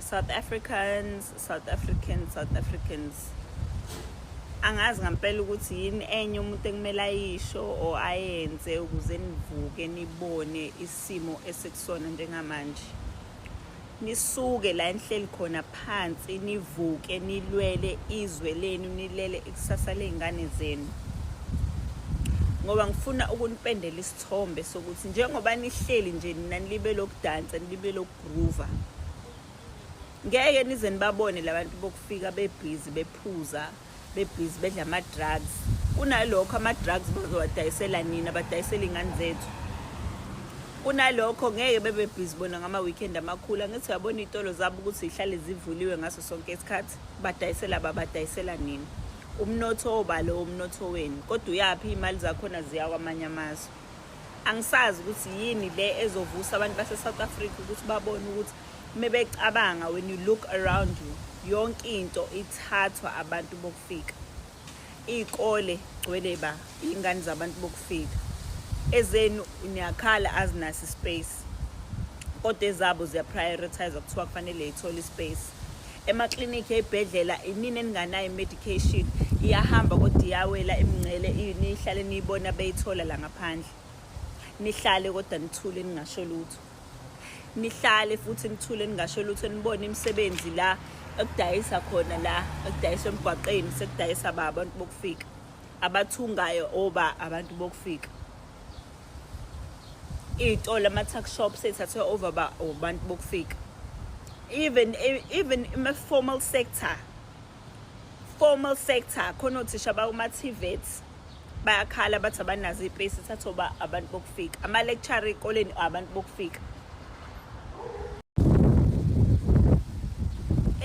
South Africans, South Africans, South Africans. Angazi ngampela ukuthi yini enye umuntu ekumele ayisho or ayenze ukuze nivuke nibone isimo esikusona njengamanje. Nisuke la enhleli khona phansi nivuke nilwele izwe lenu nilele ikusasa lezingane zenu. Ngoba ngifuna ukunipendela isithombe sokuthi njengoba nihleli nje nina nilibe lokudansa nilibe lokugroova ngeke nize nibabone labantu bokufika bebhizi bephuza bebhizi bedla ama-drugs kunalokho ama-drugs bazowadayisela nina badayisela iy'ngane zethu kunalokho ngeke bebe bhizi bona ngama-weekend amakhulu angithi uyabona iy'tolo zabo ukuthi zihlale zivuliwe ngaso sonke isikhathi badayisela babadayisela nini Umnotho oba lowo mnotho wenu kodwa uyaphi iy'mali zakhona ziya kwamanye amazwe angisazi ukuthi yini le ezovusa abantu base-south africa ukuthi babone ukuthi uma becabanga when you look around you yonke into ithathwa abantu bokufika iy'kole gcwele ba Ingane zabantu bokufika ezenu niyakhala azinasi space kodwa ezabo ziyaprioritize kuthiwa kufanele ithole ispace emaklinikhi ey'bhedlela inini eninganayo i-medication iyahamba kodwa iyawela imingcele nihlale niyibona beyithola la ngaphandle nihlale kodwa nithule ningasho lutho nihlale futhi nithule ningasho lutho nibone imisebenzi la ekudayisa khona la ekudayisa emgwaqeni sekudayisa ba abantu bokufika abathungayo oba abantu bokufika iy'tolo ama-tuck shop seyithathwe over ba abantu bokufika even even ima-formal sector formal sector khona othisha bakuma-tvet bayakhala bathi abanazo ipesi thatha oba abantu bokufika ama-lecture ey'koleni abantu bokufika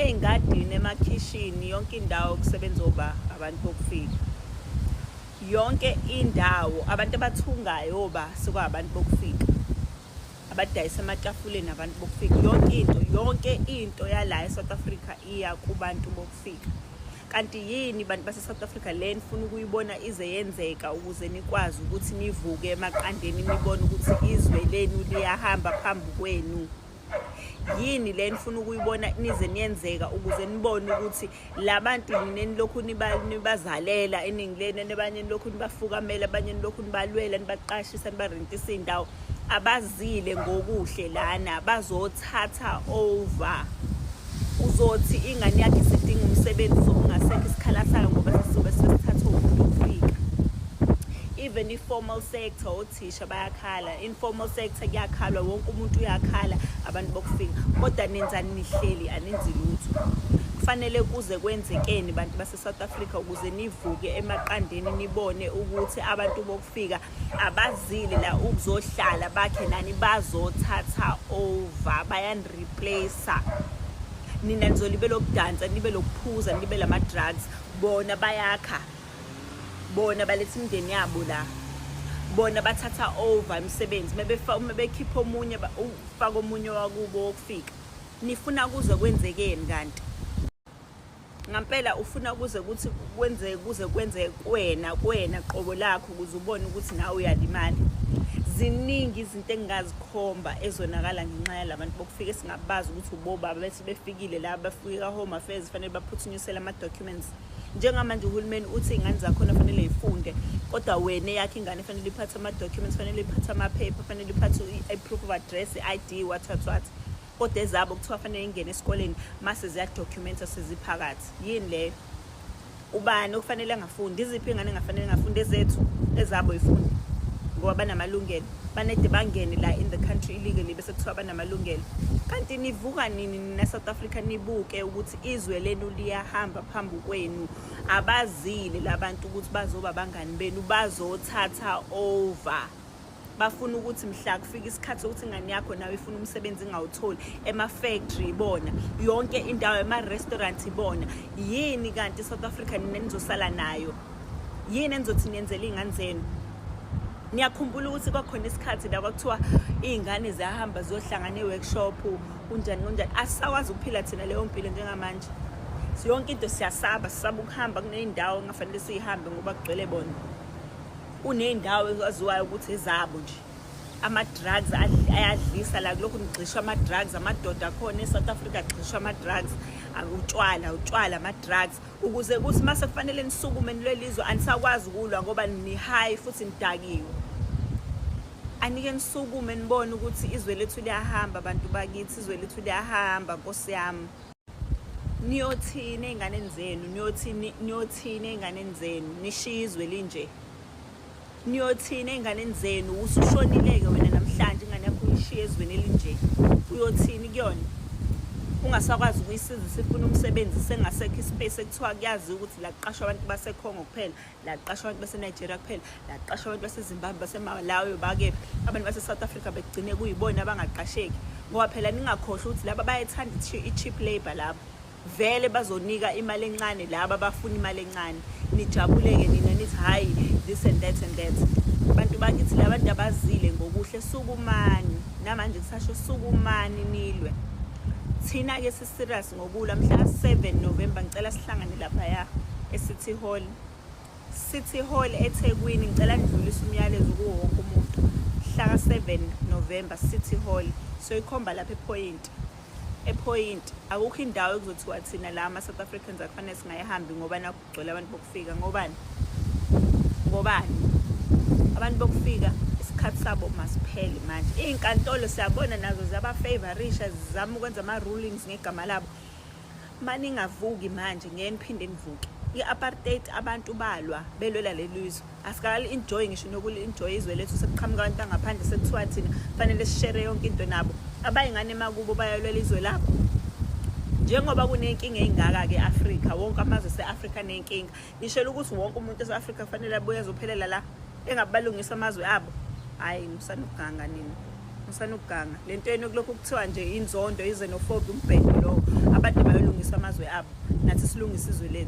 ey'ngadini emakhishini yonke indawo kusebenza oba abantu bokufika yonke indawo abantu abathungayo oba sekwabantu bokufika abadayisa ematafuleni abantu bokufika yonke into yonke into yala e-south africa iya kubantu bokufika ukufika kanti yini bantu base-south africa le nifuna ukuyibona ize yenzeka ukuze nikwazi ukuthi nivuke emaqandeni nibone ukuthi izwe lenu liyahamba phambi kwenu yini le nifuna ukuyibona nize niyenzeka ukuze nibone ukuthi labantu nine nilokhu nibazalela eningi lenu abanye nilokhu nibafukamela abanye nilokhu nibalwela nibaqashisa nibarentisa iy'ndawo abazile ngokuhle lana bazothatha over uzothi ingane yakhe isidinga umsebenzi sokungasekho isikhala sayo ngoba sizobe sesithatha umuntu ofika even i-formal sector othisha bayakhala informal sector kuyakhalwa wonke umuntu uyakhala abantu bokufika kodwa nenzani nihleli aninzi lutho kufanele kuze kwenzekeni bantu base-south africa ukuze nivuke emaqandeni nibone ukuthi abantu bokufika abazile la ukuzohlala bakhe nani bazothatha over bayaniriplace nina nizolibe lokudansa nibe lokuphuza nibe lama drugs bona bayakha bona baletha imndeni yabo la bona bathatha over imisebenzi mebefa uma bekhipha omunye ufaka omunye wakubo wokufika nifuna kuze kwenzekeni kanti ngampela ufuna kuze kuthi kwenzeke kuze kwenzeke kwena kwena qobo lakho ukuze ubone ukuthi nawe uyalimala ziningi izinto engingazikhomba ezonakala ngenxa yalabantu bokufika singabazi ukuthi ubobaba bethi befikile la bafike ka-home affairs fanele baphuthunyisele ama-documents njengamanje uhulumeni uthi iy'ngane zakhona fanele yifunde kodwa wena eyakhe ingane fanele iphathe ama-documents fanele iphathe amaphepha fanele iphathe i-proof of address i-i d what what what kodwa ezabo kuthiwa fanele ingene esikoleni mase ziyadocumentswa seziphakathi yini leyo ubani okufanele angafundi iziphi iy'ngane engafanele ngafundi ezethu ezabo yifundi ngoba banamalungelo banede bangene la in the country illegally bese kuthiwa banamalungelo kanti nivuka nini nina South Africa nibuke ukuthi izwe lenu liyahamba phambi kwenu abazile labantu ukuthi bazoba bangani benu bazothatha over bafuna ukuthi mhla kufika isikhathi sokuthi ingane yakho nawe ifuna umsebenzi ingawutholi ema-factory ibona yonke indawo ema-restaurant ibona yini kanti i-south africa nina nizosala nayo yini enizothi niyenzela iy'ngane zenu niyakhumbula ukuthi kwakhona isikhathi la kwakuthiwa iy'ngane ziyahamba ziyohlangana e-workshop kunjani kunjani asisakwazi ukuphila thina leyo mpilo njengamanje yonke into siyasaba sisaba ukuhamba kuney'ndawo kungafanele siyihambe ngoba kugcwele bona Kuney'ndawo ezaziwayo ukuthi ezabo nje ama-drugs ayadlisa la kulokhu nigxishwa ama-drugs amadoda akhona e-south africa agxishwa ama-drugs utshwala utshwala ama-drugs ukuze kuthi uma sekufanele nisukume nilwelizwe anisakwazi ukulwa ngoba nihayi futhi nidakiwe anike nisukume nibone ukuthi izwe lethu liyahamba abantu bakithi izwe lethu liyahamba nkosi yami niyothini ey'nganeni zenu niyothini niyothini ey'nganeni zenu nishiye izwe linje niyothini ey'nganeni zenu usushonileke wena namhlanje ingane yakho uyishiye ezweni elinje uyothini kuyona ungasakwazi ukuyisiza isifuna umsebenzi sengasekho ispace ekuthiwa kuyaziwa ukuthi la kuqashwa abantu basekhongo kuphela laqasha abantu baseNigeria kuphela laqasha abantu baseZimbabwe baseMalawi bakephi abantu baseSouth Africa begcine kuyibona abangaqasheki ngoba phela ningakhohlwa ukuthi laba bayethanda i-cheap labour laba vele bazonika imali encane laba bafuna imali encane nijabuleke nina nithi hhayi this and that and that abantu bakithi labantu abazile ngokuhle sukumani namanje kusasho sukumani nilwe thina-ke serious ngokulwa mhla 7 November ngicela sihlangane lapha ya eCity Hall City Hall eThekwini ngicela ngidlulise umyalezo kuwo wonke umuntu hlaka 7 November City Hall so ikhomba lapha ePoint ePoint akukho indawo ekuzothiwa thina la ama South Africans akufanele singayihambi ngoba gcwele abantu bokufika ngobani ngobani abantu bokufika isikhathi sabo masiphele manje iy'nkantolo siyabona nazo ziyabafavorisha zizama ukwenza ama-rulings ngegama labo uma ningavuki manje ngeke niphinde nivuke i-apartheid abantu balwa belwela leli zwe asikali enjoy ngisho nokuli enjoy izwe lethu sekuqhamuka abantu bangaphandle sekuthiwa thina kufanele sishere yonke into nabo abayingane emakubo bayolwela izwe labo njengoba kunenkinga eyingaka-ke afrika wonke amazwe se-afrika nenkinga nishela ukuthi wonke umuntu ese-afrika kufanele abuye azophelela la engabalungisa amazwe abo hhayi ngisanokuganga nina ngisanokuganga le nto yenu kulokhu kuthiwa nje inzondo izenofobi umbhedo lowo abantu abayolungisa amazwe abo nathi silungisa izwe lethu